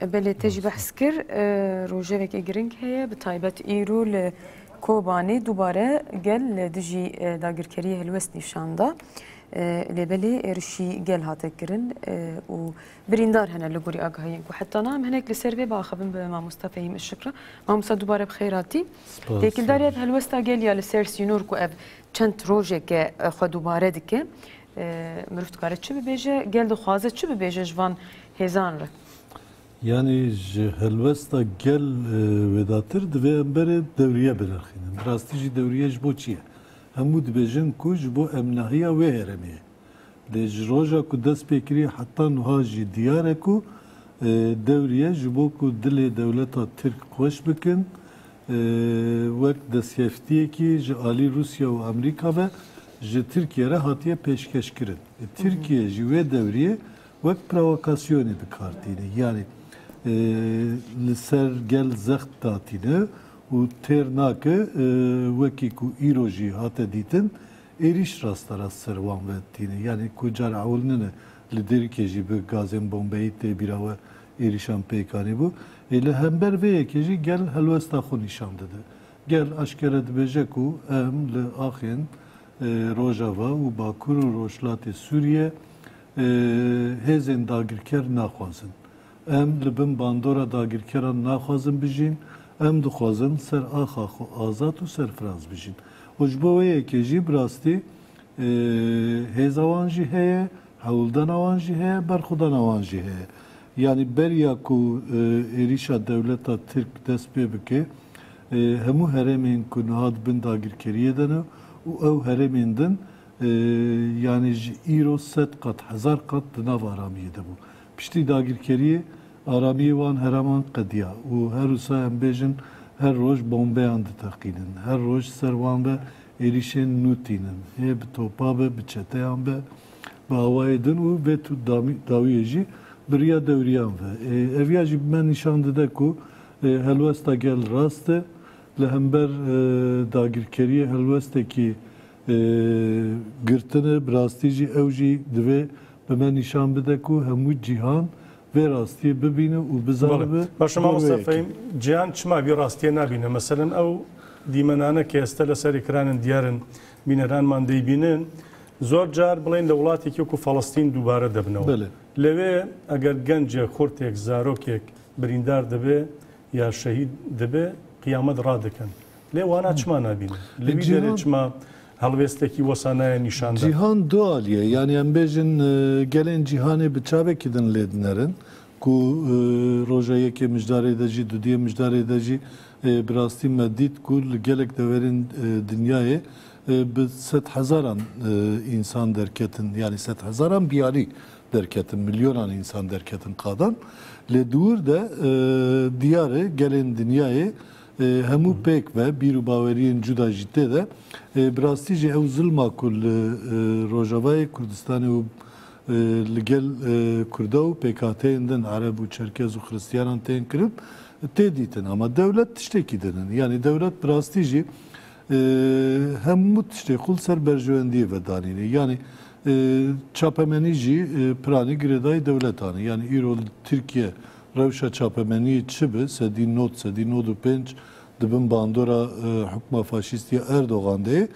Belê te jî behs kir rojevekê giring heye bi taybet îro li Kobanê dubare gel li dijî dagirkeriyê helwest nîşan da. Lê belê êrişî gel hate kirin û birîndar hene li gorî agahiyên ku heta na em hinek li ser vê biaxivin bi mamosta Fehîm Işık re. Mamosta dubare bi xêr hatî. Têkildariya bi helwesta gel ya li ser sînor ku ev çend rojeke xwe dubare dike. Mirov dikare çi bibêje? Gel dixwaze çi bibêje ji van hêzan re? Yanî ji helwesta gel wêdatir divê em berê dewriye birixînin. Bi rastî jî dewriye ji bo çi ye? Hemû dibêjin ku ji bo emnahiya wê herêmê ye. Lê ji roja ku dest pê kiriye heta nuha jî diyar e ku dewriye ji bo ku dilê dewleta Tirk xweş bikin wek destkeftiyekî ji alî Rûsya û Amerîka ve ji Tirkiye re hatiye pêşkeşkirin. Tirkiye ji wê dewriyê wek provokasyonê dikar tîne. Yanî li ser gel zext datîne û têr nake wekî ku îro jî hate dîtin êrîş rasterast ser wan ve tîne. Yanî ku car ewil nine li Dêrikê jî bi gazên bombeyî tê bîra we êrîşan pêk anîbû. Ê li hember vê yekê jî gel helwesta xwe nîşan dide. Gel eşkere dibêje ku em li axên Rojava û Bakur û Rojhilatê Sûriyê hêzên dagirker naxwazin. Em li bin bandora dagirkeran naxwazin bijîn, em dixwazin ser axa xwe azad û serfiraz bijîn. Û ji bo wê yekê jî bi rastî hêza wan jî heye, Hewldana wan jî heye, berxwedana wan jî heye. Yanî beriya ku êrîşa dewleta Tirk dest pê bike, hemû herêmên ku niha di bin dagirkeriyê de ne û ew herêmên din yanî ji îro sed qat, hezar qat di nav aramiyê de bû. Piştî dagirkeriyê aramiyê wan heraman qediya û her wisa em bêjin her roj bombeyan diteqînin, her roj ser wan ve Êrîşên nû tînin. Hê bi topa be, bi çeteyan be, bi awayê din û vê tût dawiyê jî bi riya dewriyan ve. Ev ya jî bi me nîşan dide ku helwesta gel rast e. Li hember dagirkeriyê helwestekî girtin e. Bi rastî jî ew jî divê bi me nîşan bide ku hemû cîhan vê rastiyê bibîne û bizanibe Belê. Baş e mamosta Fehîm, cîhan çima vî rastiyê nabîne? Meselen ew dîmenane ke ez tele serê kiran in diyar in, bîneranman dey bînin, zor car bileyên li welatekî wekû Falistîn dubare debnew. Belê. Lewê eger gencek, xurtêk, zarokêk birîndar dibe, Ya şehîd dibe qiyamet radikin. Lê wana çima nabînin? Li vî derê çima helwêstekî wisa naye nîşan dan? Cîhan du aliyê, yanî em bêjin gelên cîhanê bi çavekî din lê dinerin ku roja yekê mijdarê de jî, dudiyê mijdarê de jî bi rastî me dît ku li gelek deverên dinyayê bi sedhezaran însan derketin, yanî sedhezaran biyalî Derketin, milyonan însan derketin qadan. Lê di wir de diyar e gelên dinyayê hemû pêk be, bîr û baweriyên cuda jî tê de. Bi rastî jî ew zilma ku li Rojavayê Kurdistanê û li gel Kurda û pêkhateyên din, Ereb û Çerkez û Xiristiyanan tên kirin, tê dîtin. Ama dewlet tiştekî didin. Yanî dewlet bi rastî jî Hemû tiştê xwe li ser berjewendiyê vedanîne. Yanî çapemenî jî piranî girêdayî dewletan e. Yanî îro li Tirkiye rewşa çapemeniyê çi bi sedî nod, sedî nod û pênc di bin bandora hukma faşîstî ya Erdogan de ye.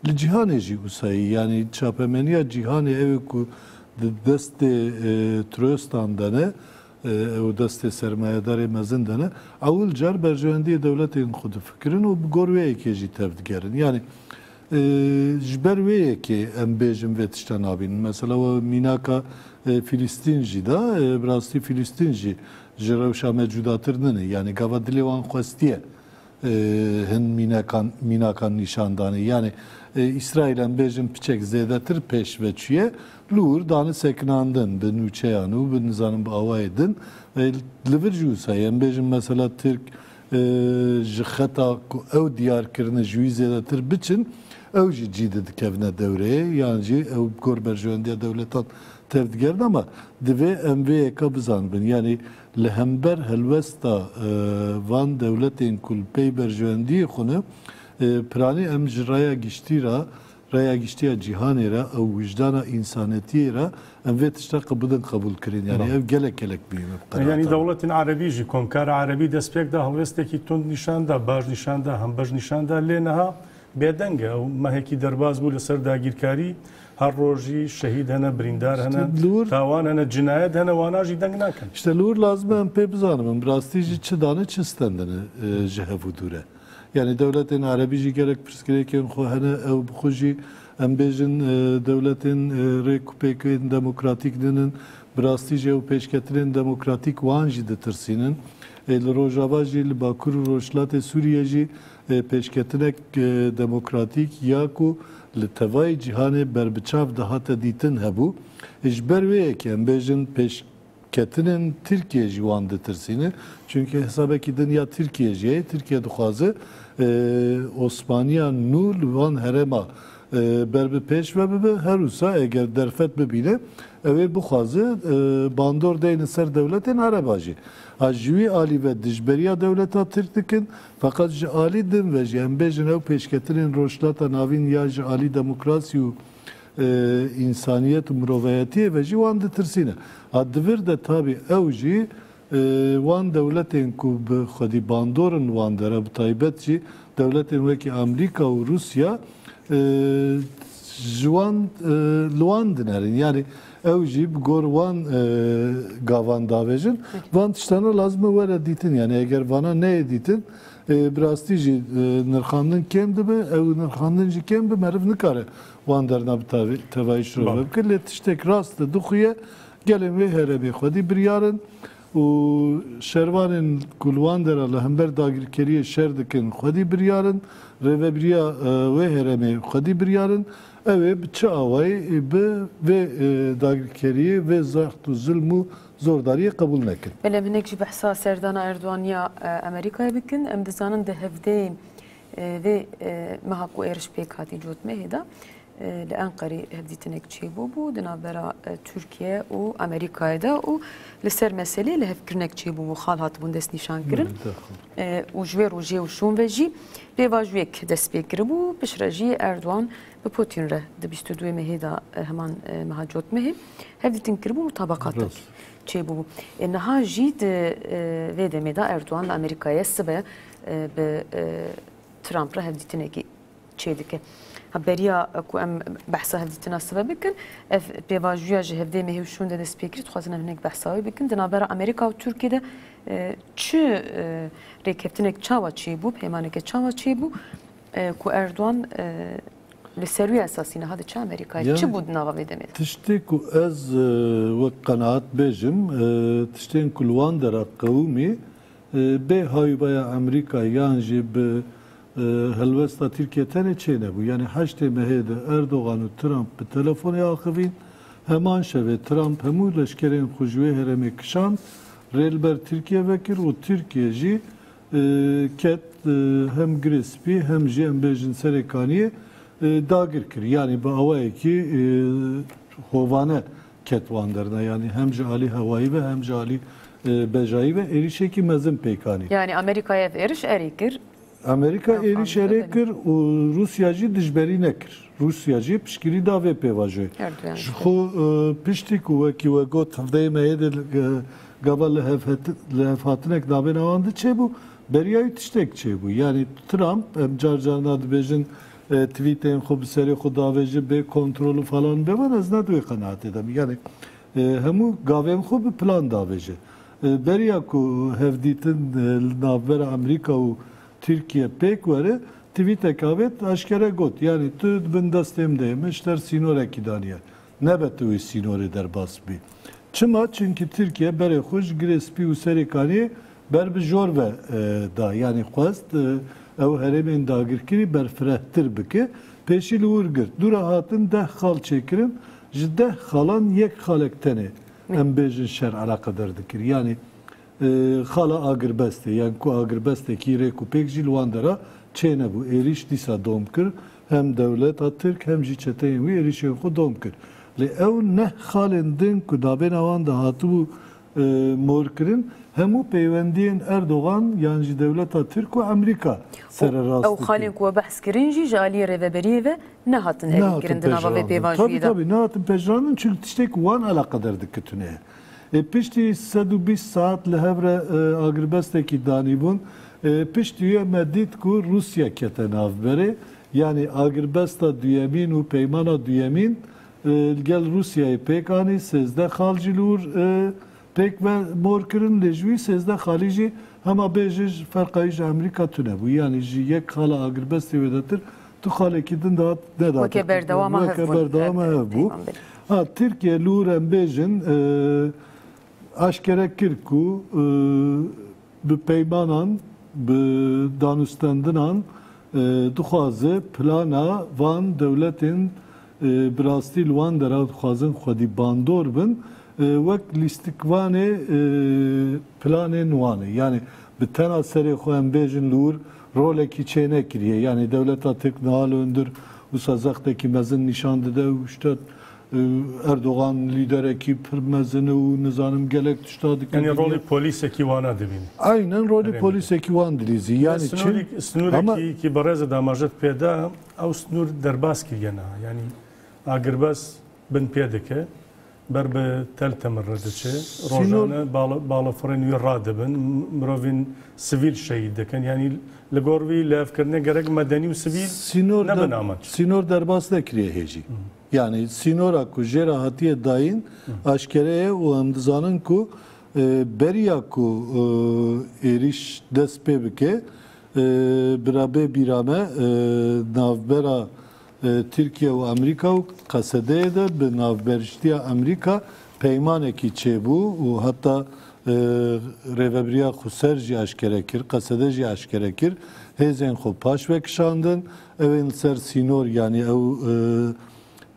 Li cîhanê jî wisa ye. Yanî çapemeniya cîhanê ew ê ku di destê troestan de ne, Ew destê sermayedarê mezin de ne. Ewil car berjewendiyê dewletên xwe difikirin û bi gor wê yekê jî tev digerin. Yanî ji ber wê yekê em bêjin vê tişta nabînin. Mesela we mînaka Fîlîstîn jî da. Bi rastî Fîlîstîn jî ji rewşa me cudatir nine. Yanî gava dilê wan xwestiye Hin mînekan mînakan nîşan dane. Yanî Îsraîl em bêjin piçek zêdetir pêş ve çûye, li wir dane sekinandin bi nûçeyan û bi nizanim bi awayê din. Li vir jî wisa ye. Em bêjin mesela Tirk ji xeta ku ew diyar kirine ji wî zêdetir biçin, ew jî cî di dikevine dewreyê yan jî ew bi gor berjewendiya dewletan tev digerine. Ama divê em vê yeka bizanibin. Yanî Li hember helwesta van dewletên ku li pey berjewendiyê xwe ne, piranî em ji raya giştî re, raya giştî ya cîhanê re û wijdana însanetiyê re em vê tişta qe bidin qebûlkirin. Yanî ev gelek gelek muhîm e bi qerara Yanî tan. dewletên erebî jî komkara erebî destpêk da, helwestekî tund nîşan da, baş nîşan da, hembej nîşan da lê niha bêdeng e. Ew mehekî derbas bû li ser dagîrkarî. Her roj jî şehîd hene, birîndar hene, tawan hene, cinayet hene, wana jî deng nakin. Îşte li wir lazim e em pê bizanim em bi rastî jî çi dane çi stendine ji hev û dûr e. Yanî dewletên erebî jî gelek pirsgirêkên xwe hene, ew bi xwe jî em bêjin dewletên rê ku pêkên demokratîk din in, bi rastî jî ew pêşketinên demokratîk wan jî ditirsînin. Ê li rojava jî li bakur û rojhilatê Sûriyê jî Pêşketinek demokratîk ya ku li tevayî cîhanê berbiçav dihate dîtin hebû. Ji ber wê yekê em bêjin pêşketinên Tirkiyê jî wan ditirsîne. Çunkî hesabekî din ya Tirkiyê jî ye. Tirkiye dixwaze Osmaniya nû li van herêma ber bi pêş ve bibe. Her wisa eger derfet bibîne ew ê bixwaze bandor deyne ser dewletên ereba jî. Ji wî alî ve dijberiya dewleta Tirk dikin, Feqet ji alî din ve jî em bêjin ew pêşketinên Rojhilata Navîn ya ji alî demokrasî û însaniyet û mirovayetiyê ve jî wan ditirsîne. A divir de tabî ew jî wan dewletên ku bi xwedî bandor in wan dere bi taybet jî dewletên wekî Amrîka û Rûsya ji wan li wan dinerin. Yanî Ew jî bi gor wan gavan davêjin. Van tiştana lazim e were dîtin. Yani eger vana neyê dîtin bi rastî jî nirxandin kêm dibe. Ew nirxandin jî kêm be meriv nikare wan derna bi tevayî şirove bike. Lê tiştek rast e dixuye gelên wê heremê xwedî biryarin û şervanên ku li wan de re li hember dagirkeriyê şer dikin xwedî biryarin. Rêvebiriya wê heremê xwedî biryarin. Ew ê bi çi awayê ê bi vê dagirkeriyê, vê zext û zilm û zordariyê qebûl nekin. Belê em hinek jî behsa serdana Erdogan ya Amerîkayê bikin. Em dizanin di hevdeyên vê meha ku êriş pêk hatî cotmehê de li Enqerê hevdîtinek çêbûbû di navbera Tirkiye û Amerîkayê de û li ser meselê lihevkirinek çêbûbû, xal hatibûn destnîşankirin û ji wê rojê û şûn ve jî Pêvajoyek dest pê kiribû piştre jî Erdogan bi Putin re di bîst û duê Mehê de heman meha cot Mehê hevdîtin kiribû mutabaqatek çêbûbû. Ê niha jî di vê demê de Erdogan li Amerîkayê ye sibe bi Trump re hevdîtinekî çêdike. Ha beriya ku em behsa hevdîtina sibe bikin ev pêvajoya ji hevdê Mehê û şûn de dest pê kir dixwazin em hinek behsa wê bikin di navbera Amerîka û Tirkiyê de Çi rêkeftinek çawa çêbû, peymaneke çawa çêbû ku Erdogan li ser wî esasî niha diçe Amerîkayê? Çi bû di nava vê demê de? Tiştê ku ez wek qenaat bêjim, tiştên ku li wan dera qewimî bê hayûbaya Amerîkayê yan jî bi Helwesta Tirkiye tenê çê nebû. Yanî heştê Mehê de Erdogan û Trump bi telefonê axivîn. Heman şevê Trump hemû leşkerên xwe ji wê herêmê kişand, rê li ber Tirkiye vekir û Tirkiye jî ket hem Girê Spî hem jî em bêjin Serê Kaniyê dagir kir. Yanî bi awayekî hovane ket wan derna yanî hem ji alî hewayî ve hem ji alî bejayî ve êrîşekî mezin pêk anî. Yanî Amerîkayê ev êriş erê kir? Amerîka êrîş erê kir û Rûsya jî dijberî nekir. Rûsya jî piştgirî da vê pêvajoyê. Ji xwe piştî ku wekî we got hevdeyê me yê dê gava lihevhatinek navêna wan de çêbû, beriya wî tiştek çêbû. Yanî Trump, em car car na dibêjin Twîtên xwe bi serê xwe davêjin bê kontrol û falan be wan ez ne di wê qenaatê de me. Yanî hemû gavên xwe bi plan davêje. Beriya ku hevdîtin li navbera Amerîka û Tirkiye pêk were twîteke avêt eşkere got, yanî tu di bin destê min de yê, min ji te re sînorekî daniye. Nebe tu wê sînorê derbas bî. Çima? Çimkî Tirkiye berê xwe ji Girê Spî û Serê Kaniyê ber bi jor ve da. Yanî xwest ew herêmên dagirkirî berfirehtir bike. Pêşî li wir girt. Dû re hatin deh xal çêkirin. Ji deh xalan yek xalek tenê em bêjin şer eleqeder dikir. Yanî xala agirbestê. Yan ku agirbestekî rêk û pêk jî li wan dera çênebû. Êrîş dîsa dom kir. Hem dewleta Tirk hem jî çeteyên wî êrîşên xwe dom kir. Lê ew neh xalên din ku navêna wan de hatibû morkirin hemû peywendiyên Erdogan yan jî dewleta Tirk û Emerîka sererast dikin. Ew xalên ku we behs kirin jî ji aliyê rêveberiyê ve nehatin erînkirin di nava vê pêvajoyê de. Tabî tabî nehatin pejirandin çünkû tiştê ku wan eleqeder dikitune ye. Ê piştî sed û bîst saet li hev re agirbestekî danîbûn. Piştî wê me dît ku Rûsya kete navberê. Yanî agirbesta duyemîn û peymana duyemîn li gel Rûsyayê pêk anî. Sêzdeh xal jî li wir pêk ve mor kirin. Lê ji wî sêzdeh xalî jî hema bê jij ferqa wî ji Amerîka tune bû. Yanî ji yek xala agirbestê wêdetir Tu xalekî din de hat ne da. Weke berdewama hev bûn. Weke berdewama hev bû. Ha Tirkiye li wir em bêjin eşkere kir ku bi peymanan bi danûstendinan dixwaze plana van dewletên Bi rastî li wan dera dixwazin xwedî bandor bin wek lîstikvanê planên Wanê. Yanî bi tena serê xwe em bêjin li wir rolekî çênekiriye. Yanî dewleta Tirk niha li hundir wisa zextekî mezin nîşan dide û şita Erdogan lîderekî pir mezin û nizanim gelek tişta dike dibîne. Yanî rolê polîsekî Wana dibîne. Eynen rolê polîsekî Wan dilîzî. Yanî çi? Snorîk, snorîkî ki berêzê damajet pêda. Ew snûr derbas kiriye niha. Yanî agirbest bin pê dike, ber bi tel temir re diçe, rojane balafirên wî radibin, mirovên sivîl şehîd dikin. Yanî li gor wî lihevkirinê gerek medenî û sivîl nebin amaç. Sînor derbas nekiriye hê jî. Yanî sînora ku jê re hatiye dayîn aşkere ye û em dizanin ku beriya ku êrîş dest pê bike, Bira bê bîra me navbera Tirkiye û Amerîka û Qesedeyê de bi navberiştiya Amerîka peymanekî çêbû û heta Rêvebiriya Xweser jî eşkere kir, Qesede jî eşkere kir, hêzên xwe paş vekişandin, ew ên li ser sînor yanî ew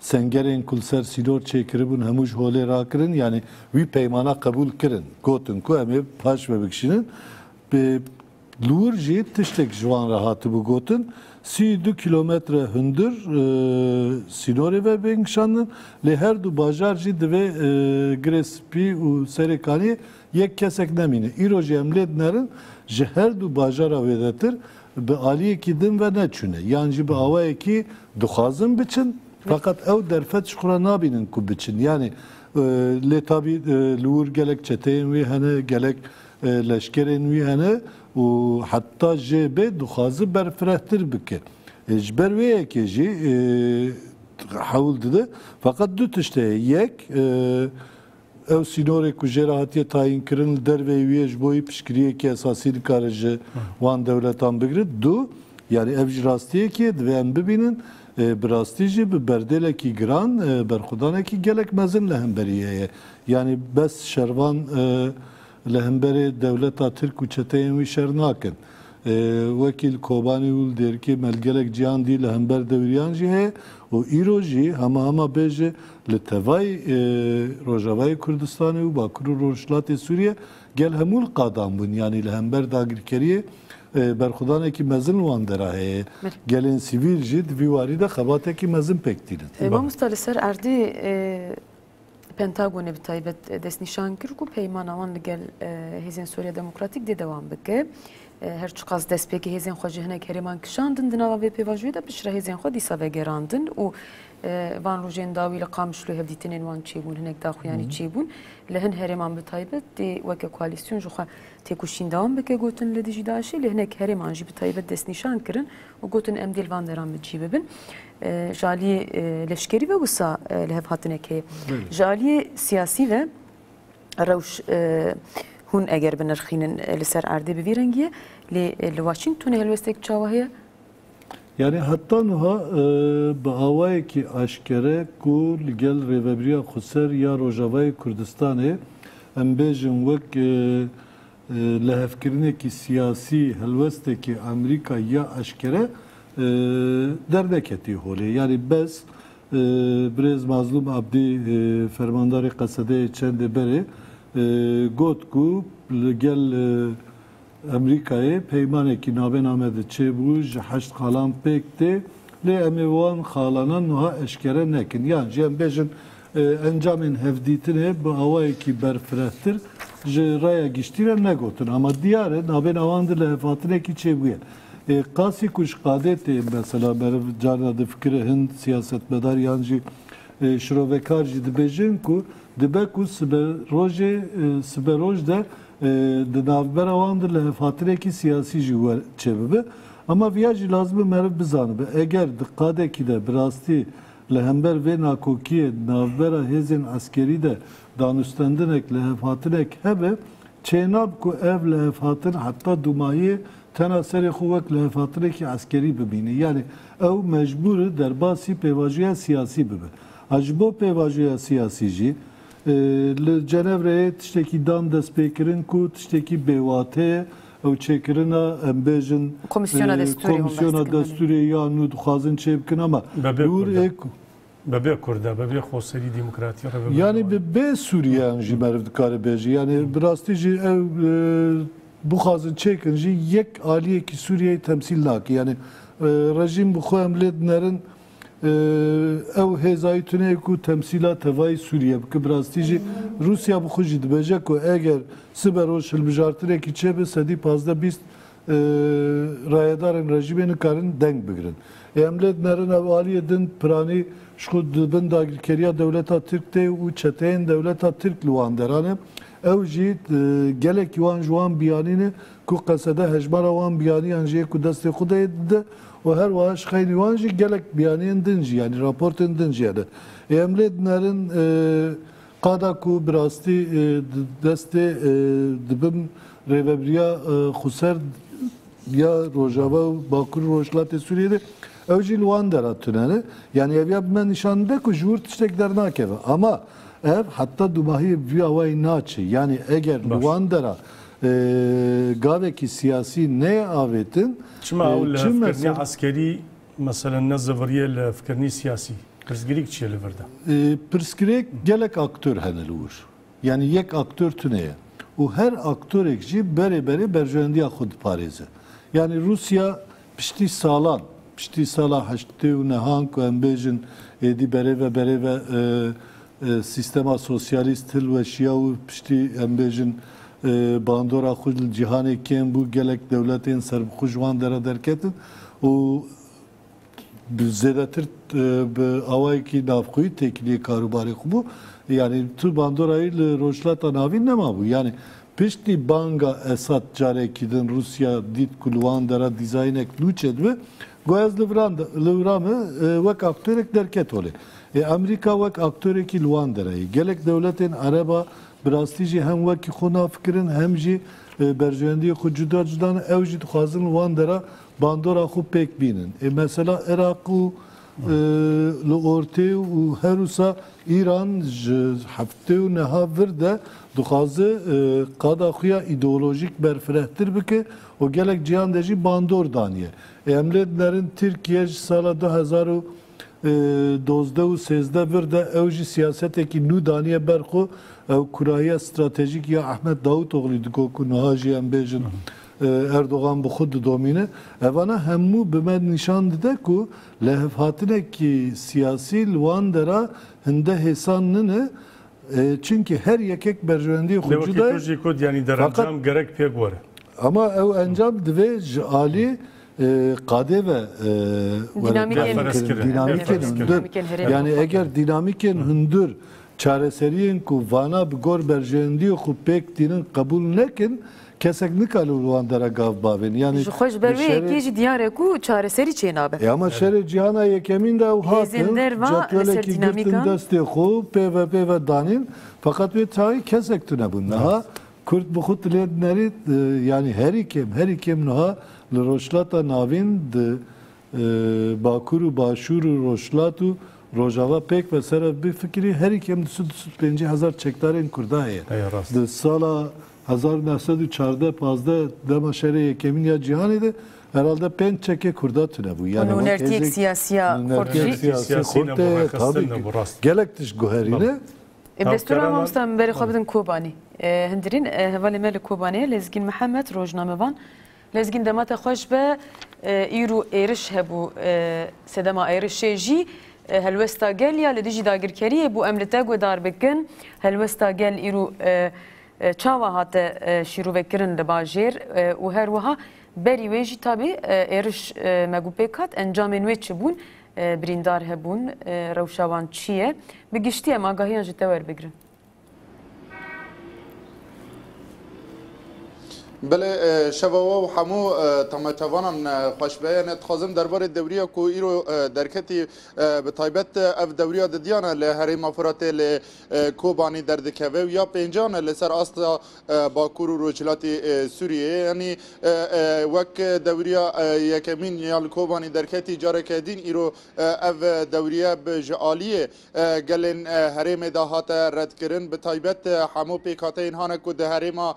sengerên ku li ser sînor çêkiribûn hemû ji holê rakirin, yanî wî peymana qebûl kirin, gotin ku em ê paş vebikişînin. Li wir jî tiştek ji wan re hatibû gotin, sî û du kîlometre hundir sînorê ve bên kişandin, lê her du bajar jî divê Girê Spî û Serê Kaniyê yek kesek nemîne. Îro jî em lê dinerin ji her du bajara wêdetir bi aliyekî din ve neçûne yan jî bi awayekî dixwazin biçin feqet ew derfet ji xwe re nabînin ku biçin. Yanî lê tabî li wir gelek çeteyên wê hene, gelek Leşkerên wî hene û heta JB dixwaze berfirehtir bike. Ji ber wê yekê jî hewl dide. Feqet du tişt heye. Yek, ew sînorê ku jê re hatiye tayînkirin li derveyî wî ye ji bo wî piştgiriyekî esasî nikare ji wan dewletan bigire. Du, yanî ev jî rastiyekî ye, divê em bibînin bi rastî jî bi berdêlekî giran berxwedanekî gelek mezin li hemberî heye. Yanî bes şervan. Li hemberê dewleta Tirk û çeteyên wî şer nakin. Wekî li Kobanî û li Dêrikê me li gelek cîhan dî li hember dewriyan jî heye û îro jî hema hema bêje li tevay Rojavayê Kurdistanê û Bakur û Rojhilatê Sûriye gel hemû li qadan bûn yanî li hember dagirkeriyê berxwedanekî mezin li wan dera heye. Gelên sivîl jî di vî warî de xebatekî mezin pêk tînin. Mamosta li ser erdê Pentagonê bi taybet destnîşan kir ku peymana wan li gel hêzên Sûriya Demokratîk dê dewam bike. Her çiqas destpêkê hêzên xwe ji hinek herêman kişandin di nava vê pêvajoyê de piştre hêzên xwe dîsa vegerandin û van rojên dawî li Qamişlo hevdîtinên wan çêbûn hinek daxuyanî çêbûn li hin herêman bi taybet dê weke koalîsyon ji xwe têkoşîn dewam bike gotin li dijî DAIŞê lê hinek herêman jî bi taybet destnîşan kirin û gotin em dê li van deran bi çî bibin. Ji aliyê leşkerî ve wisa li hev hatinek heye. Ji aliyê siyasî ve rewş hûn eger binirxînin li ser erdê bi vî rengî ye lê li Washingtonê helwestek çawa heye? Yanî heta nuha bi awayekî aşkere ku li gel Rêvebiriya Xweser ya Rojavayê Kurdistanê em bêjin wek Lihevkirinekî siyasî helwestekê Amerîka ya eşkere derneketiye holê. Yanî bes birêz Mazlûm Abdî fermandarê Qesedeyê çendê berê got ku li gel Amerîkayê peymanekî navêname de çêbû, ji heşt xalan pêk tê lê em ê wan xalanan nuha eşkere nekin yan jî em bêjin Encamên hevdîtinê bi awayekî berfirehtir ji raya giştî re negotin ama diyar e navên awan di lihevhatinekî çêbûye. Qasî ku ji qadê tê mesela meriv carna difikire hin siyasetmedar yan jî şirovekar jî dibêjin ku dibe ku sibe rojê sibe roj de di navbera wan de lihevhatinekî siyasî jî wer çêbibe ama viya jî lazim e meriv bizanibe eger di qadekî de bi rastî Li hember vê nakokiyê di navbera hêzên eskerî de danûstandinek, lihevhatinek hebe, çênab ku ev lihevhatin heta dûmahiyê tena serê xwe wek lihevhatinekî eskerî bibîne. Yanî ew mecbûr e derbasî pêvajoya siyasî bibe. A ji bo pêvajoya siyasî jî Li Cenevreyê tiştekî dan destpêkirin ku tiştekî bêwate ye, ew çêkirina em bêjin Komîsyona Destûrê hûn behs dikin belê. Destûrê ya nû dixwazin çêbikin ama Bebê li Kurd e. wir Bebê Kurd e, bebê xweserî demokratî re bibe Yani bi bê Sûriyeyan jî meriv dikare bêje. Yani bi rastî jî ew bixwazin çêkin jî yek aliyekî Sûriyeyê temsîl nake. Yani rejîm bi xwe em lê dinerin. Ew hêzayî tune ye ku temsîla tevayî Sûriye bike. Bi rastî jî Rûsya bi xwe jî dibêje ku eger sibe roj hilbijartinekî çêbe sedî pazdeh bîst rayedarên rejîmê nikarin deng bigirin. Ê em lê dinerin ew aliyê din piranî ji xwe di bin dagirkeriya dewleta Tirk tê û çeteyên dewleta Tirk li wan deran e. Ew jî gelekî wan ji wan biyanîn e ku qesede hejmara wan biyaniyan jê ku destê xwe deyê dide û her wiha ji xeynî wan jî gelek biyaniyên din jî yanî raportên din jî hene. Ê em lê dinerin qada ku bi rastî di destê di bin rêvebiriya xweser ya Rojava û Bakur û Rojhilatê Sûriyê de ew jî li wan dera tune ne. Yanî ev ya bi me nîşan dide ku ji wir tiştek dernakeve. Ama. Ev heta dûmahî vîya we yê naçe. Yanî eger li wan dera gavekî siyasî neyê avêtin, Çima ew li hevkirinî eskerî meselen ne ziviriye li hevkirinî siyasî? Pirsgirêk çi ye li vir de? Pirsgirêk gelek aktor hene li wir. Yanî yek aktor tune ye. Û her aktorêk jî berê berê berjewendiya xwe diparêze. Yanî Rûsya Piştî salan, piştî sala heştê û nehan ku em bêjin êdî berê ve berê ve sîstema sosyalîst hilweşiya û piştî em bêjin bandora xwe li cîhanê kêm bû, gelek dewletên serbixwe ji wan dere derketin û bi zêdetir bi awayekî navxweyî têkiliyê karûbarê xwe bû. Yanî tu bandorayî li Rojhilata Navîn nemabû. Yanî Piştî banga Esad carekî din Rûsya dît ku li wan dera dîzaynek nû çêdibe, got ez li viran de, li vira me wek aktörek derket holê. Ê Amerîka wek aktorekî li wan dera ye. Gelek dewletên Ereb a bi rastî jî hem wekî xwe nafikirin hem jî berjewendiyê xwe cuda cuda ne. Ew jî dixwazin li wan dera bandora xwe pêk bînin. Ê mesela Iraq û. Li ortê û herwisa Îran ji heftê û niha vir de dixwaze qada xwe ya îdeolojîk berfirehtir bike û gelek cîhan de jî bandor daniye. Ê em lê binerin Tirkiye ji sala du hezar û dozdeh û sêzdeh vir de ew jî siyasetekî nû daniye ber xwe, ew kurahiya stratejîk ya Ehmed Daûtoglî diko ku niha jî em bêjin Erdogan bi xwe didomîne. Evana hemû bi me nîşan dide ku lehevhatinekî siyasî li wan dera hinde hêsan nine çimkî her yekek berjewendiyê xwe cuda ye. Lê wekî tu jî got yanî der encam gerek pêk were. Ama ew encam divê ji aliyê qadê ve were perwîrkirin, dînamîkên hundir. Yanî eger dînamîkên hundir çareseriyên ku vana bi gor berjewendiyê xwe pêk tînin qebûl nekin Kesek nikare li wan dera gav bavên yanî. Ji xwe ji ber wê yekê jî diyar e ku çareserî çênabe. Ê ama şerê cîhana yekemîn de ew hatin, cetwelekî girtin destê xwe û pêve pêve danîn feqet wê tayî kesek tune bûn. Niha kurd bi xwe tilê dinerî yanî herî kêm herî kêm niha li Rojhilata Navîn di Bakur û Başûr û Rojhilat û Rojava pêk be ser ev bifikirî, herî kêm du sed du sed û pêncî hezar çekdarên Kurda heye. Di sala hezar û neh sed û çardeh pazdeh dema Şerê Yekemîn ya Cîhanê de herhalde pênc çekê Kurda tune bû. Û nûnertiyek siyasiya xurt jî. Siyasî xurt heye tabî gelek tişt guherîne. Destûra mamosta min berê xwe bidin Kobanî. Hundirîn hevalê me li Kobanê Lezgîn Mihemed rojnamevan. Lezgîn dema te xweş be. Îro êriş hebû. Sedema êrişê jî helwesta gel ya li dijî dagirkeriyê bû. Em li te guhdar bikin. Helwesta gel îro çawa hate şîrovekirin li bajêr û her wiha berî wê jî tabî êriş me gû pêk hat. Encamên wê çi bûn? Birîndar hebûn? Rewşa wan çi ye? Bi giştî em agahiyan ji te werbigirin. Belê şeva we û hemû temaçevanan xweş be. Yanê dixwazim derbarê dewriya ku îro derketî bi taybet ev dewriya di diyan e li Herêma Firatê lê Kobanî derdikeve û ya pêncan e li ser asta Bakur û Rojhilatê Sûriyeyê. Yanî wek dewriya yekemîn ya li Kobanî derketî careke dîn îro ev dewriye bi ji aliyê Gelên herêmê de hate redkirin bi taybet hemû pêkhateyên hane ku di herêma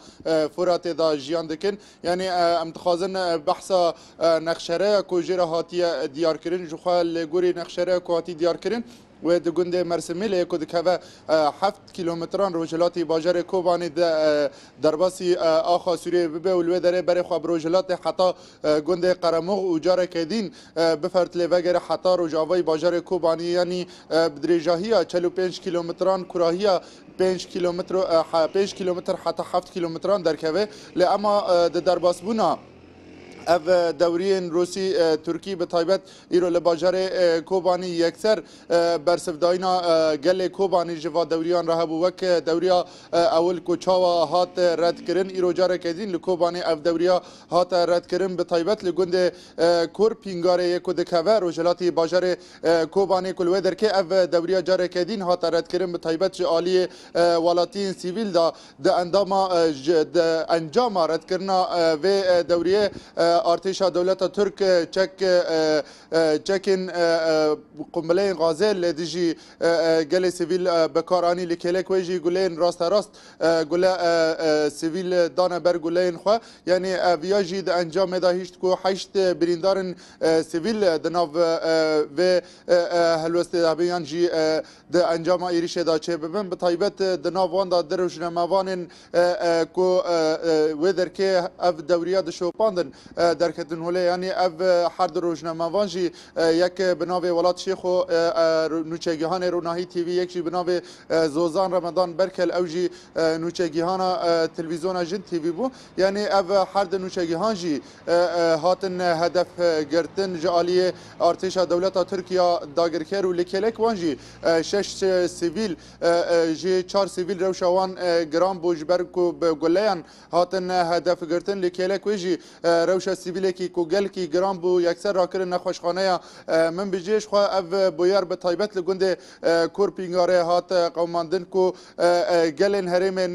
Furatê de jiyan dikin. Yanî em dixwazin behsa nexşereya ku jê re hatiye diyarkirin ji xwe li gorî nexşereya ku hatî diyarkirin wê di gundê Mersimêlê ku dikeve heft kîlometran rojhilatî bajarê Kobanê de derbasî axa Sûriyeyê bibe û li wê derê berê xwe bi rojhilatê heta Gundê Qeremox û careke dîn bi fertilê vegere heta rojavayî bajarê Kobaniyê yanî bi dirêjahiya çel û pênc kîlometran kurahiya pênc kîlometro pênc kîlometr heta heft kîlometran derkeve lê ema di derbasbûna ev dewriyên Rûsî Tirkî bi taybet îro li bajarê Kobanî yekser bersivdayîna gelê Kobanî ji va dewriyan re hebû wek dewriya ewil ku çawa hat redkirin îro careke dîn li Kobanê ev dewriya hate redkirin bi taybet li gundê Kur Pîngarê yê ku dikeve rojhilatî bajarê Kobanê ku li wê derkê ev dewriya careke dîn hate redkirin bi taybet ji aliyê welatiyên sivîl de di endama di encama redkirina vê dewriyê artêşa dewleta Tirk çek çekên qumbileyên gazê li dijî gelê sivîl bikar anî li kêlek wê jî gulên rasterast Gule sivîl dane ber guleyên xwe. Yanî viya jî di encamê de hişt ku heşt birîndarên sivîl di nav vê helwestê de hebin yan jî di encama êrişê de çê bibin. Bi taybet di nav wan de di rojnamevanên ku wê derkê ev dewriya dişopandin derketin holê. Yanî ev her du rojnamevan jî yek bi navê Welat Şêxo nûçegihanê Ronahî TV yek jî bi navê Zozan Remedan Berkel ew jî nûçegîhana Televîzyona Jin TV bû. Yanî ev her di nûçegîhan jî hatin hedef girtin. Ji aliyê artêşa dewleta Tirkiya dagirker û li kêlek wan jî şeş sivîl jî çar sivîl rewşa wan giran bû ji ber ku bi guleyan hatin hedef girtin. Li kêlek wê jî rewşa sivîlekî ku gelkî giran bû yekser rakirin nexweşxaneya Minbicê. Jixwe ev bûyer bi taybet li gundê Korpînga re hat qewimandin ku gelên herêmê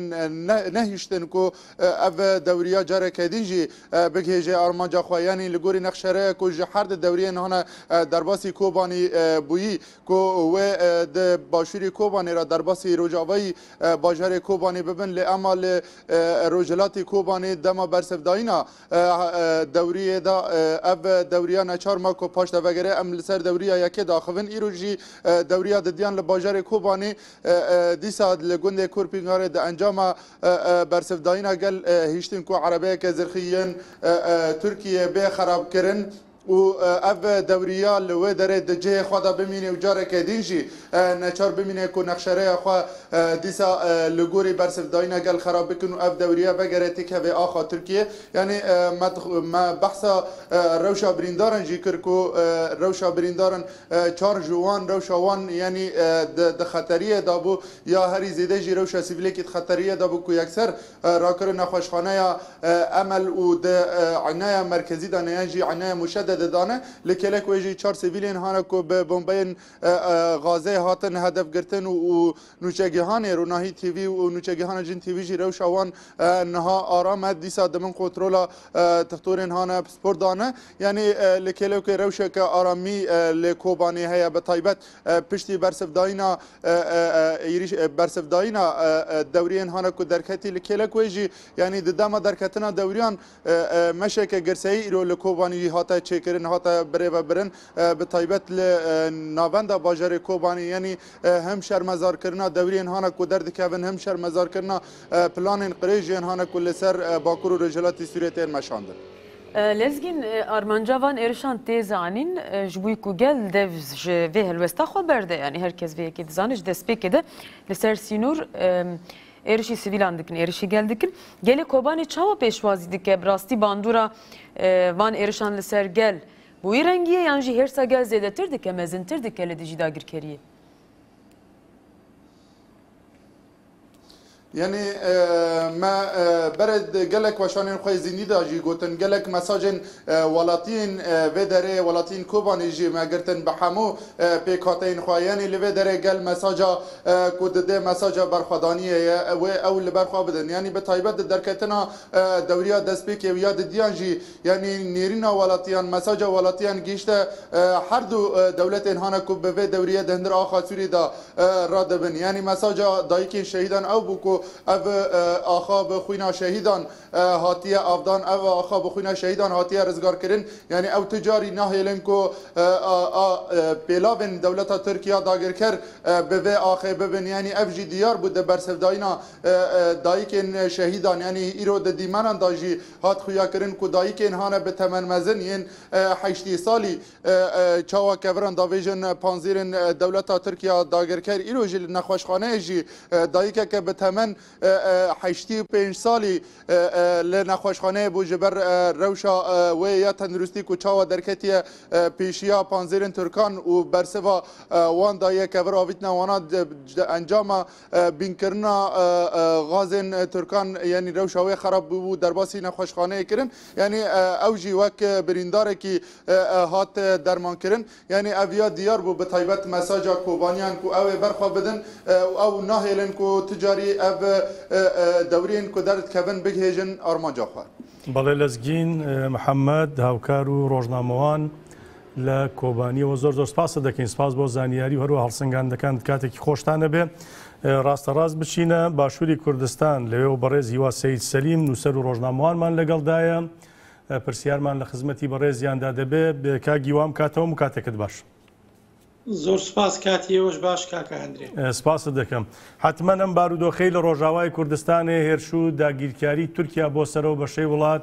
nehiştin ku ev dewriya careke din jî bigihêje armanca xwe. Yanî li gorî nexşereye ku ji her di dewriyên hane derbasî Kobanî bûyî ku wê di başûrî Kobanê re derbasî rojavayî bajarê Kobanê bibin lê ema li rojhilatê Kobanê dema bersivdayîna Dewriyê da ev dewriya neçar ma ku paş te vegere em li ser dewriya yekê daxivin. Îro jî dewriya didiyan li bajarê Kobanê dîsa li gundê Kurpingarê di encama bersivdayîna gel hiştin ku erebeyeke zirxî yên Tirkiyê bê xerabkirin. û ev dewriya li wê derê di cihê xwe de bimîne û careke din jî neçar bimîne ku nexşereya xwe dîsa li gorî bersivdayîna gel xerab bikin û ev dewriya vegere têkevê axa Tirkiyê. Yanî me me behsa rewşa birîndaran jî kir ku rewşa birîndaran çar ji wan rewşa wan yanî di xeteriyê de bû ya herî zêde jî rewşa sivîlekî di xeteriyê de bû ku yekser Rakirin nexweşxaneya Emel û di Îneya Merkezî de ne yan jî Îneya Muşedde de dane. Li kêlek wê jî çar sivîlên hane ku bi bombeyên gazê hatin hedefgirtin û nûçegihanê Ronahî TV û nûçegihana Cin TV jî rewşa wan niha aram e. Dîsa di bin kontrola tixtorên hane pispordane. Yanî li kêlek wê rewşeke aramî li Kobanê heye bi taybet Piştî bersivdayîna êrîş bersivdayîna dewriyên hane ku derketî li kêlek wê jî yanî di dema derketina dewriyan meşeke girseyî îro li Kobanî jî hate çêkirin hate birêvebirin bi taybet li navenda bajarê Kobanî yanî him şermezarkirina dewriyên hane ku derdikevin him şermezarkirina planên qirêjiyên hane ku li ser Bakur û Rojhilatî Sûriyê tên meşandin. Lezgîn armanca van êrişan tê zanîn ji bo ku gel dev ji vê helwesta xwe berde. Yanî her kes vê yekê dizane ji destpêkê de li ser sînor êrişî sivîlan dikin, êrişî gel dikin. Gelê Kobanê çawa pêşwazî dike? Bi rastî bandora van êrişan li ser gel bi wî rengî ye yan jî hêrsa gel zêdetir dike, mezintir dike li dijî dagirkeriyê? Yanî me berê gelek weşanên xwe yê zîndî de jî gotin, gelek mesajên welatiyên vê derê, welatiyên Kobanê jî me girtin bi hemû pêkhateyên xwe. Yanî li vê derê gel mesaja ku didê mesaja berxwedaniyê ye wê ew li ber xwe bidin. Yanî bi taybet di derketina dewriya destpêkê û ya didiyan jî, Yanî nêrîna welatiyan, mesaja welatiyan gihîşte her du dewletên hane ku bi vê dewrîyê di hundir axa Sûrî de radibin. Yanî mesaja dayikên şehîdan ew bû ku ev axa bi xwîna şehîdan hatiye avdan, ev axa bi xwîna şehîdan hatiye rizgarkirin. Yanî ew tu carî nahêlin ku a pêlavên dewleta Tirk ya dagirker bi vê axê bibin. Yanî ev jî diyar bû di bersivdayîna dayikên şehîdan yanî îro di dîmenan de jî Hat xuyakirin ku dayikên hane bi temen mezin yên heştî salî çawa keviran davêjin panzêrên dewleta Tirkiya dagirker îro jî li nexweşxaneyê jî dayikeke bi temen heştî û pênc salî li nexweşxaneyê bû ji ber rewşa wê ya tenduristî ku çawa derketiye pêşiya panzêrên Tirkan û bersiva wan daye kevir avîtina wana di encama Bînkirina gazên Tirkan yanî rewşa wê xerab bûbû derbasî nexweşxaneyê kirin. Yanî ew jî wek birîndarekî hat dermankirin. Yanî ev ya diyar bû bi taybet mesaja Kobaniyan ku ew ê berxwe bidin û ew nahêlin ku tu carî ev dewriyên ku derdikevin bigihêjin armanca xwe. Belê Lezgîn Mihemed, hevkar û rojnamewan Li Kobaniyê zor zor spas dikin. Spas bo zaniyarî û her wiha hilsingandekan katekî xweş tane be. Rasterast biçîne başûrî Kurdistan li wê berêz Hîwa Seyîd Selîm nûser û rojnamewanman legel da ye. Pirsiyarman li xizmetî berêziyan de dibe. Ka Gîwan ka te û min katekit baş. Zor spas katiyê we ji baş kaka Hendre. Spas dikim. Hetmen em barûdoxê li rojavayê Kurdistanê hêrşû dagîrkarî Tirkiya bo ser ew beşê wilat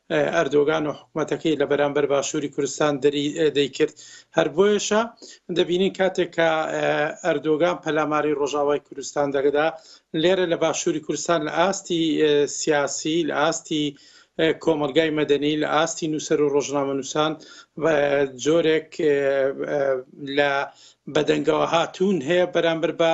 Erdogan û hikûmetekî li beramber Başûrî Kurdistan derî dê kir. Her boyeşa dibînin katê ka Erdogan pelamarî Rojavayê Kurdistan dagida, lêre li Başûrî Kurdistan li astî siyasî, li astî komelgayê medenî, li astî nûser û rojnamenûsan corek li bedengewe hatûn heye beramber ba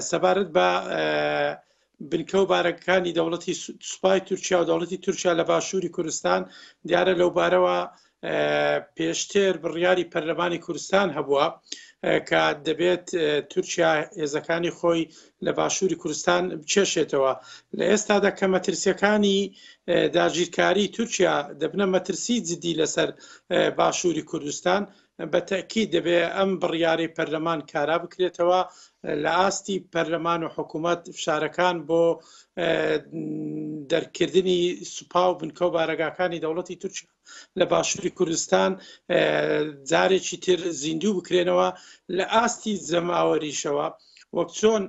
Sebarit be binkew barekekanî dewletî Supay Tirkiye û dewletî Tirkiye li Başûrî Kurdistan diyare lewbarewa pêştir biryarî Perlemanî Kurdistan hebûa ka dibêt Tirkiye hêzekanî xwe li Başûrî Kurdistan bikêşêtewe. Li êsta de ke metirsiyekanî dagîrkarî Tirkiye dibine metirsî cidî li ser Başûrî Kurdistan Be tekîd divê em biryarê perleman kara bikirêtewa, li astî perleman û hikûmet fişarekan bo dergkirdinî sipa û binke û baregakanî dewletî Tirkiye li başûrî Kurdistan carekî tir zîndû bikirênewa, li astî zemawerîşewa wek çon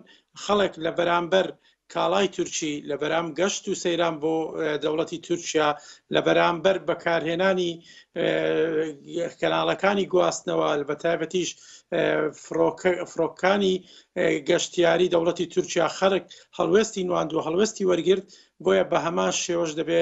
xelek li beramber Kalay Turkî li beram geşt û seyran bo dewletî Turkiya li beramber bekarhênanî kenalekanî guwastnewa li be taybetî ji firokanî geştyarî dewletî Turkiya xerik helwestî nwandiwe helwestî wergirt boye bi heman şêwe ji dibê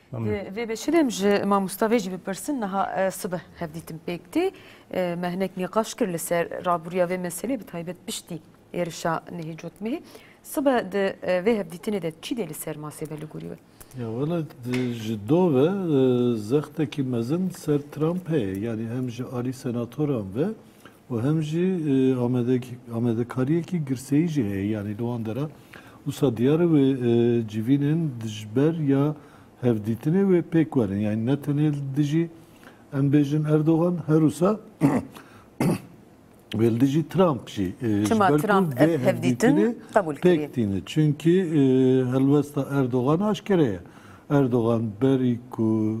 Vê bêşidem ji mamosta vê jî bipirsin niha sibeh hevdîtin pêk tê me hinek nîqaş kir li ser rabûriya vê meselê bi taybet piştî êrişa nihê cotmehê sibeh di vê hevdîtinê de çî dê li ser masê be li gorî we? Ya wele ji do ve zextekî mezin ser Trump heye yanî hem ji alî senatoran ve û hem jî amadekariyekî girseyî jî heye yanî li wan dera. Wisa diyar e wê civînên dijber ya hevdîtinê wê pêk werin. Yanî ne tenê li dijî em bêjin Erdogan her wisa wê li dijî Trump jî ji ber ku vê hevdîtinê pêk tîne. Çimkî helwesta Erdogan aşkere ye. Erdogan berî ku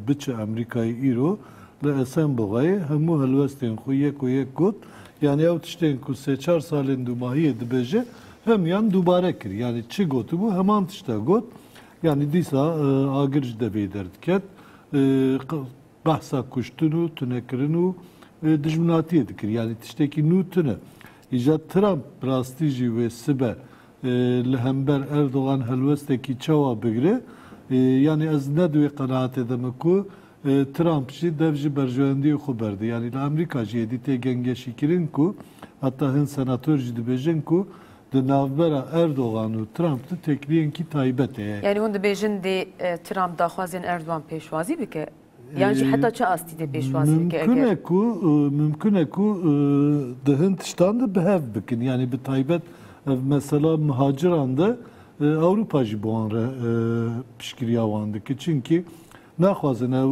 biçe Amerîkayê îro li Esenboxayê hemû helwestên xwe yeko yek got, yanî ew tiştên ku sê çar salên dûmahiyê dibêje hemûyan dubare kir. Yanî çi gotibû heman tişt e got. Yanî dîsa agir ji devê derdiket. Behsa kuştin û tunekirin û dijminatiyê dikir. Yanî tiştekî nû tune. Îja Trump bi rastî jî wê sibe Li hember Erdogan helwestekî çawa bigire? Yanî ez ne di wê qenaatê de me ku Trump jî dev ji berjewendiyê xwe berde. Yanî li Amerîka jî êdî tê gengeşîkirin ku heta hin senator jî dibêjin ku di navbera Erdogan û Trump de têkiliyên kî taybet heye. Yanî hûn dibêjin dê Trump daxwazên Erdogan pêşwazî bike? Yan jî heta çi astî dê pêşwazî bike eger. Mimkun e ku mimkun e ku di hin tiştan de bi hev bikin. Yanî bi taybet ev mesela mihacîran de Ewropa jî bi wan re piştgiriya wan dike. Çimkî naxwazin ew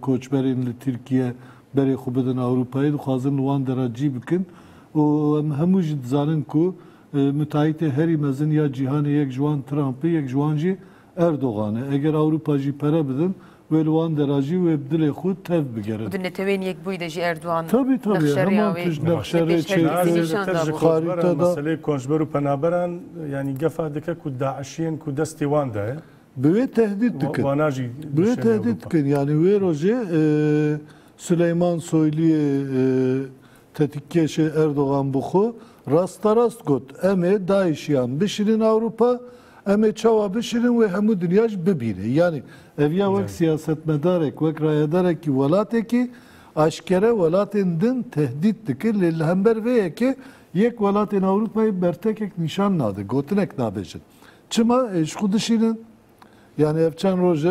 koçberên li Tirkiye berê xwe bidin Ewropayê. Dixwazin li wan dera cî bikin. Û em hemû jî dizanin ku mitahîtê herî mezin ya cîhanê yek ji wan Trump e, yek ji wan jî Erdogan e. Eger Ewropa jî pere bidin, wê li wan de re jî wê bi dilê xwe tev bigerin. Û di neteweyên Yekbûyî de jî Erdogan Tabî tabî nexşe rêya heman wê tişt li nexşe rê pêşherî çêkir. Naz li nîşan tir ji dabû. koçberan, Xarîte da. meseleyê koçber û penaberan yanî gefa dike ku DAIŞ'iyên ku destê wan de ye, Bi wê tehdît dikin. wana jî Bi wê dişemê tehdît Ewropa. dikin. Yanî wê rojê e, Suleyman Soyliyê e, Tetikgeşê Erdogan bi xwe rasterast got, Em ê DAIŞ'yan bişînin Ewropa, em ê çawa bişînin wê hemû dinya jî bibîne. Yanî ev ya wek siyasetmedarek, wek rayedarekî welatekî eşkere welatên din tehdît dikir lê li hember vê yekê yek welatên Ewropayê bertekek nîşan nade, gotinek nabêjin. Çima? Ê ji xwe dişînin. Yanî ev çend roj e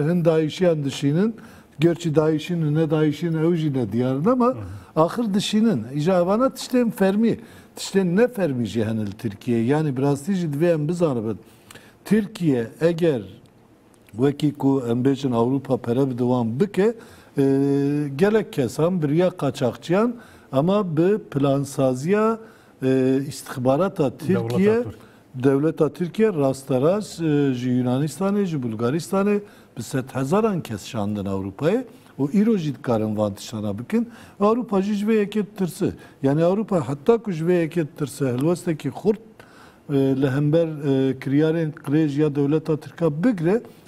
hin dayîşiyan dişînin. Gerçî dayîşîn û nedayîşîn ew jî ne diyar in ama axir dişînin. Îja evana tiştên fermî, tiştên ne fermî jî hene li Tirkiyeyê. Yanî bi rastî jî divê em bizanibin Tirkiye eger wekî ku em bêjin Ewropa pere bide wan bike gelek kesan biriya qaçaxçiyan ama bi plansaziya îstixbarata Tirkiye Dewleta Tirkiye rasterast ji Yunanistanê, ji Bulgaristanê bi sedhezaran kes şandin Ewropayê û îro jî dikarin van tiştana bikin. Ewropa jî ji vê yekê ditirse. Yanî Ewropa heta ku ji vê yekê ditirse hilwestekî xurt li hember kiryarên qirêj ya dewleta tirk a bigire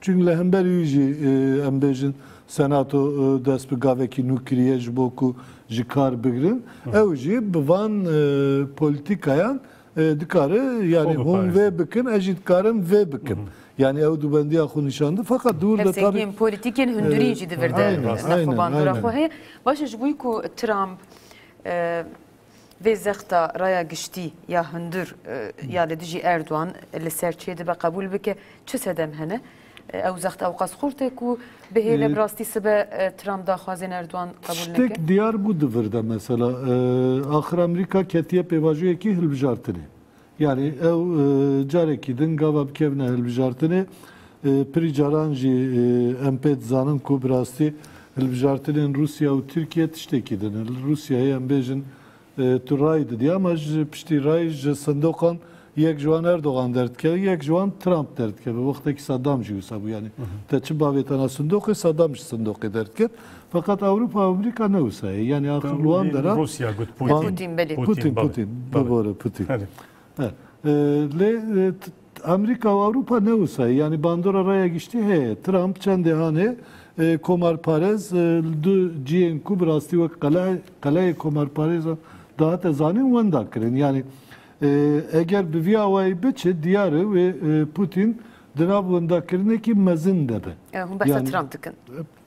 Çung li hember wî jî em bêjin Senato dest bi gavekî nû kiriye ji bo ku ji kar bigirin. Ew jî bi van polîtîkayan dikare yanî hûn vê bikin ez jî dikarim vê bikim. Yanî ew dûbendiya xwe nîşan di fakat di wir de tabî Hevsengiyên polîtîkên hundurî jî di vir de nexwebandora xwe heye. Baş e ji bo ku Trump Vê zexta raya giştî ya hundir ya li dijî Erdogan li ser çê dibe qebûl bike çi sedem hene? Ew zext ewqas xurt e ku bihêle bi rastî sibe Trump daxwazên Erdogan qebûl neke? Tiştek diyar bû di vir de mesela axir Amerîka ketiye pêvajoyekî hilbijartinê. Yanî ew carekî din gava bikevine hilbijartinê. Pirî caran jî em pê dizanin ku bi rastî hilbijartinên Rûsya û Tirkiyê tiştekî din. Li Rûsyayê em bêjin tu rayî didî ama ji piştî rayî ji sindoqan yek ji wan Erdogan derdikeve yek ji wan Trump derdikeve. Wextekî Saddam jî wisa bû yanî te çi bavê tena sindoqê Saddam ji sindoqê derdiket. Feqet Ewropa û Amerîka ne wisa ye. Yanî axir li wan deran. Rûsya got Pûtîn. Pûtîn belê. Pûtîn, Pûtîn. Bi bo re Pûtîn. Belê. Lê Amerîka û Ewropa ne wisa ye. Yanî bandora raya giştî heye. Trump çendê hane komarparez li du cihên ku bi rastî wek qeleyê komarparêzan dihate zanîn wenda kirin. Yanî eger bi vî awayî biçe diyar e wê Pûtîn di nav wendakirinekî mezin de be. Hûn behsa Trump dikin.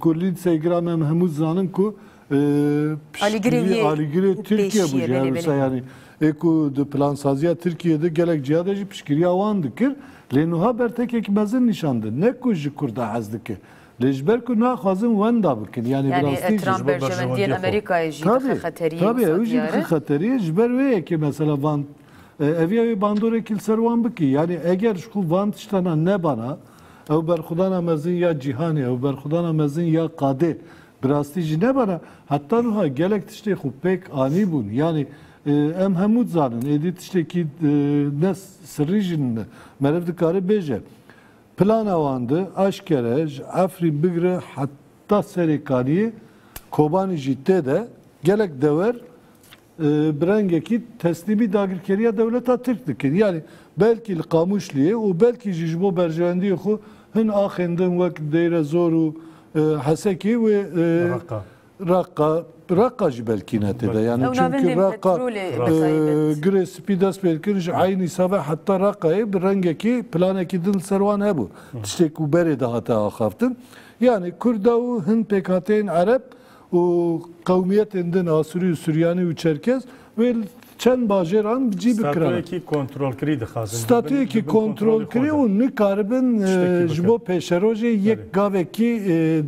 Kurlîn Seygiran em hemû dizanin ku piştgirî alîgirê Tirkiye bû ji hevisa yanî ê ku di plansaziya Tirkiyeyê de gelek ciha de jî piştgiriya wan dikir lê nuha bertekek mezin nîşan didin ne ku ji Kurda hez dike lê ji ber ku naxwazin wenda bikin yanî bi rastî jî ji bo berjewendiyê xwe tabi tabi ew jî dixe xeteriyê ji ber wê yekê mesela van ev ya wê bandorek li ser wan bikî yanî eger ji xwe van tiştana nebana Ew berxwedana mezin ya cîhanê, ew berxwedana mezin ya qadê bi rastî jî nebana. Heta nuha gelek tiştê xwe pêk anîbûn. Yanî em hemû dizanin êdî tiştekî ne sirrî jî nîne. Meriv dikare bêje plana wan di eşkere ji Efrîn bigire heta Serêkaniyê, Kobanî jî tê de gelek dewer, Bi rengekî teslîmî dagirkeriya dewleta Tirk dikin. Yanî belkî li Qamişliyê û belkî jî ji bo berjewendiyê xwe hin axên din wek Deyrezor û Hesekê wê Reqqa, Reqqa jî belkî ne tê de. Yanî çimkî Reqqa girê spî dest pê dikirin ji eynî save heta Reqqayê bi rengekî planekî din li ser wan hebû. Tiştê ku berê de hate axaftin. Yanî Kurda û hin pêkhateyên Ereb û qewmiyetên din Asûrî û Suryanî û Çerkez wê li çend bajêran cî bikirane. Statuyekî kontrolkirî dixwazin. Statuyekî kontrolkirî û nikaribin ji bo pêşerojê yek gavekî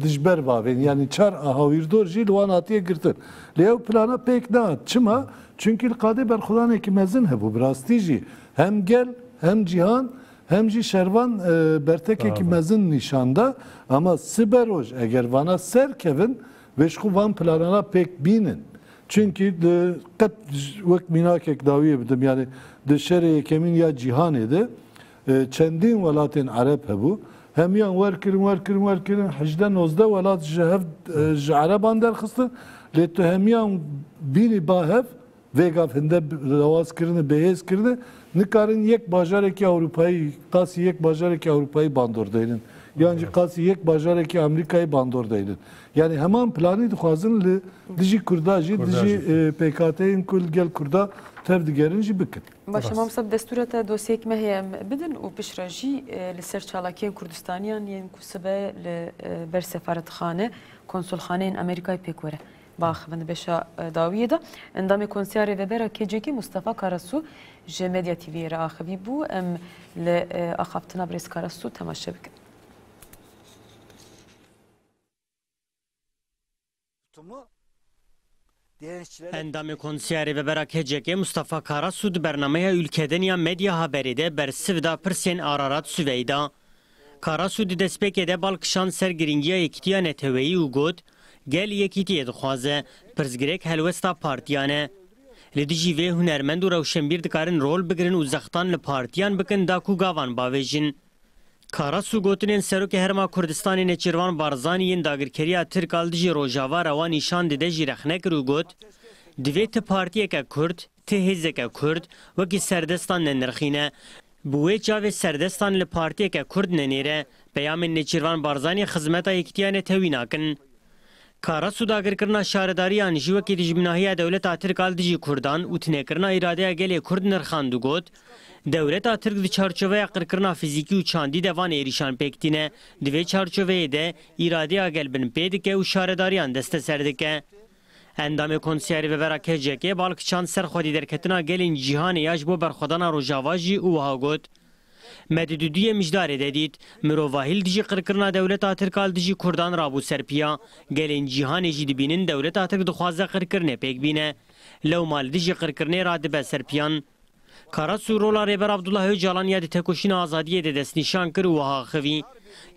dijber bavên. Yanî çar a hawîrdor jî li wan hatiye girtin. Lê ew plana pêk nehat. Çima? Çimkî li qadê berxwedanekî mezin hebû. Bi rastî jî hem gel hem cîhan Hem jî şervan bertekekî mezin nîşan da. Ama sibe roj eger vana ser kevin vê ji xwe van planan a pêk bînin. Çunkî di qet wek mînakek dawiyê bidim yanî di şerê yekemîn ya cîhanê de çendîn welatên ereb hebû. Hemiyan wer kirin wer kirin wer kirin hejdeh nozdeh welat ji hev ji ereban derxistin lê tu hemiyan bînî ba hev Vê gav hinde lawaz kirine, bêhêz kirine, nikarin yek bajarekî Ewropayî, qasî yek bajarekî Ewropayî bandor deynin. Yan jî qasî yek bajarekî Amerîkayî bandor deynin. Yanî heman planî dixwazin li dijî Kurda jî, dijî pêkhateyên ku li gel Kurda tev digerin jî bikin. Baş e Mamostab destûra te dosyeyek me heye em bidin û piştre jî li ser çalakiyên Kurdistaniyan yên ku sibe li ber sefaretxane, konsulxaneyên Amerîkayê pêk were. Bax min beşa dawiyê de endamê konseya Rêvebera KCK'ê Mustafa Karasu ji Medya TV'yê re axivî bû. Em li axaftina Birêz Karasu temaşe bikin. Endamê konseya Rêvebera KCK'ê Mustafa Karasu di bernameya Ülkedeniya Medya Haberî de bersiv da pirsên Ararat Süveyda. Karasu di destpêkê de bal kişand ser girîngiya yekîtiya neteweyî û got, Gel yekîtiyê dixwaze, pirsgirêk helwesta partiyan e. Li dijî vê hunermend û rewşenbîr dikarin rol bigirin û zextan li partiyan bikin da ku gavan bavêjin. Karasu gotinên Serokê Herêma Kurdistanê Nêçîrvan Barzanî yên dagirkeriya Tirk a li dijî Rojava rewa nîşan dide jî rexne kir û got, Divê ti partiyeke Kurd, Ti hêzeke Kurd wekî serdestan nenirxîne. Bi wê çavê serdestan li partiyeke Kurd nenêre. Peyamên Nêçîrvan Barzanî xizmeta yekîtiya netewî nakin. Kara sûdagirkirina şaredariyan jî wekî dijminahiya dewleta Tirk a li dijî Kurdan û tinekirina îradeya gelê Kurd nirxand û got, Dewleta Tirk di çarçoveya qirkirina fizîkî û çandî de van êrîşan pêk tîne. Di vê çarçoveyê de îradeya gel binpê dike û şaredariyan desteser dike. Endamê Konseya Rêvebera KCK'ê bal kişand ser xwedîderketina gelên cîhanê ya ji bo berxwedana Rojava jî û wiha got, Me di dudiyê mijdarê de dît, mirovahî li dijî qirkirina dewleta Tirk a li dijî kurdan rabû ser piya, gelên cîhanê jî dibînin dewleta Tirk dixwaze qirkirinê pêk bîne, lewma li dijî qirkirinê ra dibe ser piyan. Karasu rola Rêber Abdullah Ocalan ya di tekoşîna azadiyê de destnîşan kir û wiha axivî,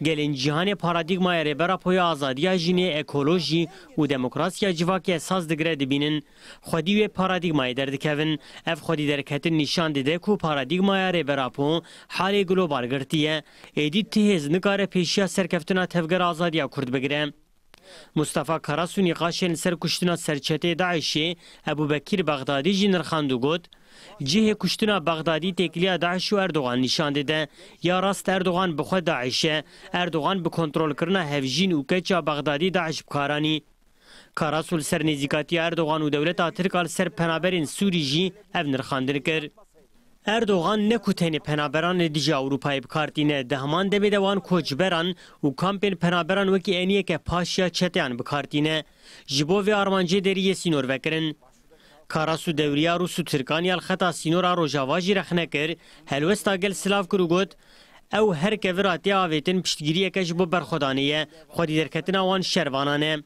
Gelên cîhanê paradîgmaya Rêber Apo ya azadiya jinê, ekolojî û demokrasiya civakê esas digire dibînin, xwedî wê paradîgmayê derdikevin. Ev xwedî derketin nîşan dide ku paradîgmaya Rêber Apo halê global girtiye. Êdî ti hêz nikare pêşiya serkeftina tevgera azadiya Kurd bigire. Mustafa Karasu nîqaşên li ser kuştina serçetê DAIŞ'ê Ebubekîr Bexdadî jî nirxand û got, Cihê kuştina Bexdadî têkiliya DAIŞ û Erdogan nîşan dide. Ya rast Erdogan bi xwe DAIŞ e. Erdogan bi kontrolkirina hevjîn û keça Bexdadî DAIŞ bi kar anî. Karasu li ser nêzîkatiya Erdogan û dewleta Tirk a li ser penaberên Sûrî jî ev nirxandin kir. Erdogan ne ku tenê penaberan li dijî Ewropayê bi kar tîne, di heman demê de wan koçberan û kampên penaberan wekî eniyeke paşiya çeteyan bi kar tîne. Ji bo vê armancê derî yê sînor vekirin. Karas û dewriya rûs û tirkan ya li xeta sînor a rojava jî rexne kir, helwesta gel silav kir û got, Ew her kevir a tê avêtin piştgiriyeke ji bo berxwedanê ye, xwedîderketina wan şervanan e.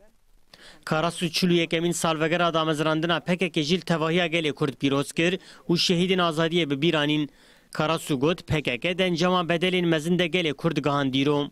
Karasu çil û yekemîn salvegera damezrandina pkk jî li tevahiya gelê Kurd pîroz kir û şehîdên azadiyê bi bîr anîn. Karasu got, pkk di encama bedelên mezin de gelê Kurd gihand dîro.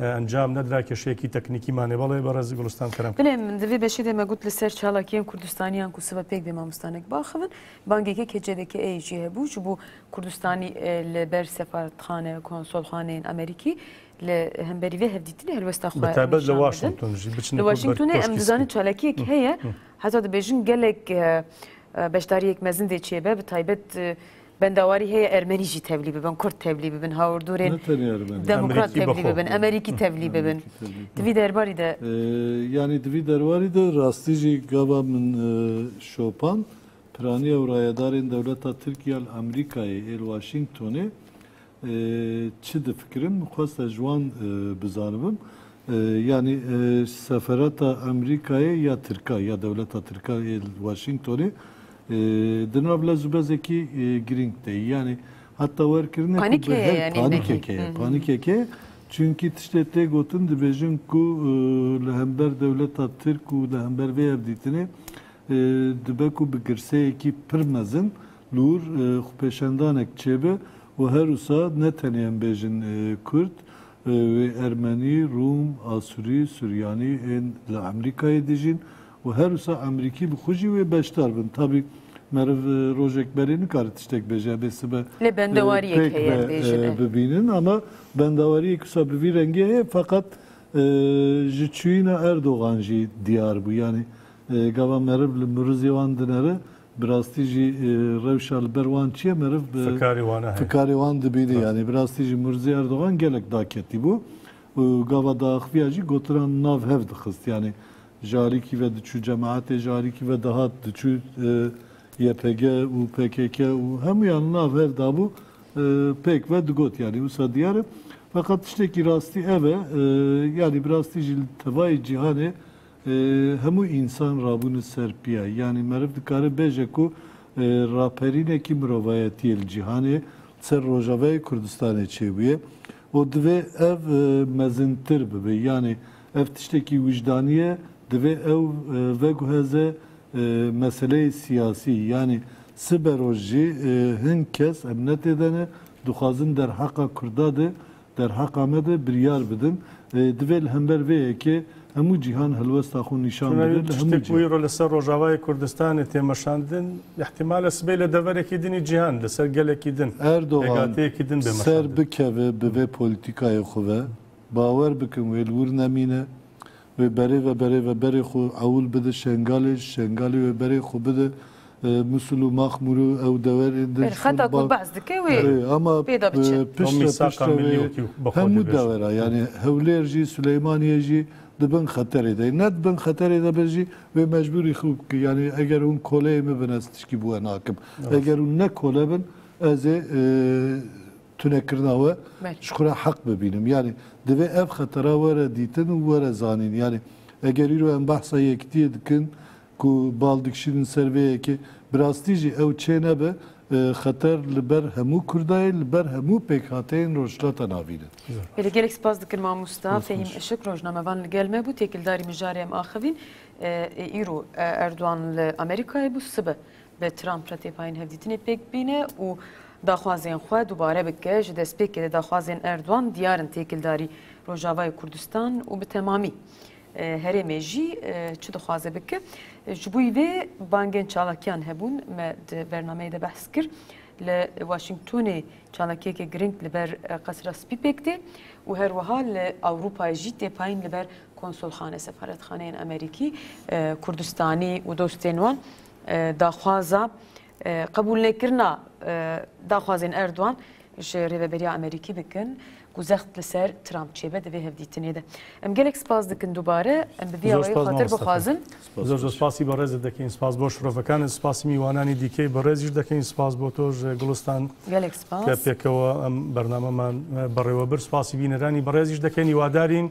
encam nedira keşeyekî teknîkî mane belê berez Gulistan Kerem. Bilê min di vê beşê de me got li ser çalakiyên Kurdistaniyan ku sibe pêk dê mamostanek biaxivin, bangeke KCDK'ê jî hebû ji bo Kurdistanî li ber sefaretxane, konsolxaneyên Amerîkî li hemberî vê hevdîtinê helwesta xwe nîşan bedin. Li Washington jî biçin. Li Washingtonê em dizanin çalakiyek heye heta dibêjin gelek beşdariyek mezin dê çêbe bi taybet Bendawarî heye Ermenî jî tevlî bibin, Kurd tevlî bibin, hawirdûrên demokrat tevlî bibin, Emerîkî tevlî bibin. Di vî derbarî de. Yanî di vî derbarî de rastî jî gava min şopan piraniya û rayedarên dewleta Tirkiye li Emerîkayê ê li Washingtonê Çi difikirim xweste ji wan bizanibim. Yanî seferata Amerîkayê ya Tirka ya dewleta Tirka ê li Washingtonê di nav lez û bezekî girîng de ye. Yanî heta werkirine ku Panîk heye yanî ne kî. Panîkek heye. Panîkek heye. Çunkî tiştê tê gotin dibêjin ku li hember dewleta Tirk û li hember vê hevdîtinê dibe ku bi girseyekî pir mezin Lûr, xwepêşandanek çêbe û herwisa ne tenê em bêjin Kurd, wê Ermenî, Rûm, Asurî, Suryanî ên li Amerîkayê dijîn û herwisa Amerîkî bi xwe jî wê beşdar bin. Tabî meriv rojek berê nikare tiştek bêje, ebê sibe pêk be bibînin ama bendawariyek wisa bi vî rengê heye feqet ji çûyîna Erdogan jî diyar bû. Yanî gava meriv li miruzê wan dinere Bi rastî jî rewşa li ber wan çi ye meriv bi Fikarê wan e heye. fikarê wan dibînî. Yanî bi rastî jî Murzî Erdogan gelek daketî bû û gava daaxiviya jî gotinan nav hev dixist. Yanî ji alîkî ve diçû cemaetê, ji alîkî ve dihat diçû YPG û pkk û hemûyan nav hev dabû pêk ve digot. Yanî wisa diyar e. Feqet tiştekî rastî ev e, yanî bi rastî jî li tevayê cîhanê Hemû însan rabûne ser piya. Yanî meriv dikare bêje ku raperînekî mirovayetiyê li cîhanê li ser Rojavayê Kurdistanê çêbûye û divê ev mezintir bibe. Yanî ev tiştekî wijdanî ye, divê ew veguheze meseleyê siyasî. Yanî siberoj jî hin kes, em netêde ne, dixwazin derheqa Kurda de Derheqa me de biryar bidin. Divê li hember vê yekê hemû cîhan helwesta xwe nîşan bide li hemû cihê. Tiştê ku îro li ser Rojavayê Kurdistanê tê meşandin, îhtîmal e sibê li deverekî din ê cîhan li ser gelekî din, pêgateyekî din bê meşandin. Erdogan ser bikeve bi vê polîtîkayê xwe ve, bawer bikin wê li wir nemîne. Wê berê ve berê ve berê xwe ewil bide Şengalê, Şengalê wê berê xwe bide Musul û Maxmûrê û ew dewerên din Berê xeta ku behs dike wê pê de biçe. Ama piştre piştre wê hemû dewera yanî Hewlêr jî Silêmaniyê jî di bin xeterê de ye. Ne di bin xeterê de be jî wê mecbûr î xwe bike. Yanî eger hûn koleyê min bin ez tişkî bi we nakim. Eger hûn ne kole bin ez ê tunekirina we ji xwe re heq bibînim. Yanî divê ev xetera were dîtin û were zanîn. Yanî eger îro em behsa yekitiyê dikin ku bal dikişînin ser vê yekê, bi rastî jî ew çê nebe xeter li ber hemû Kurdayê, li ber hemû pêkhateyên Rojhilata Navîn e. Belê gelek spas dikim mamosta Fehîm Işik rojnamevan li gel me bû, têkildarî mijarê em axivîn. Îro Erdogan li Amerîkayê bû sibe Bi Trump re têpayên hevdîtinê pêk bîne û daxwazên xwe dubare bike. Ji destpêkê de daxwazên Erdogan diyar in têkildarî Rojavayê Kurdistan û bi temamî herêmê jî çi dixwaze bike. Ji bo vê bangên çalakiyan hebûn me di bernameyê de behs kir. Li Washingtonê çalakiyekê giring li ber Qesra Spî pêk tê û her wiha li Ewropayê jî têpayîn li ber konsolxane, sefaretxaneyên Amerîkî, Kurdistanî û dostên wan. Daxwaza qebûlnekirina daxwazên Erdogan ji Rêveberiya Amerîkî dikin ku zext li ser Trump çêbe di vê hevdîtinê de. Em gelek spas dikin dubare em bi vîya wê xatir bixwazin. Zor zor spasî berêzê dikin. Spas bo şirovekan spasî mîwananî dîkê berêz jî dikin. Spas bo to ji Gulistan. Gelek spas. Ke pêkewa em bernameman berêwebir spasî bîneranî berêz jî dikin. Hiwadarîn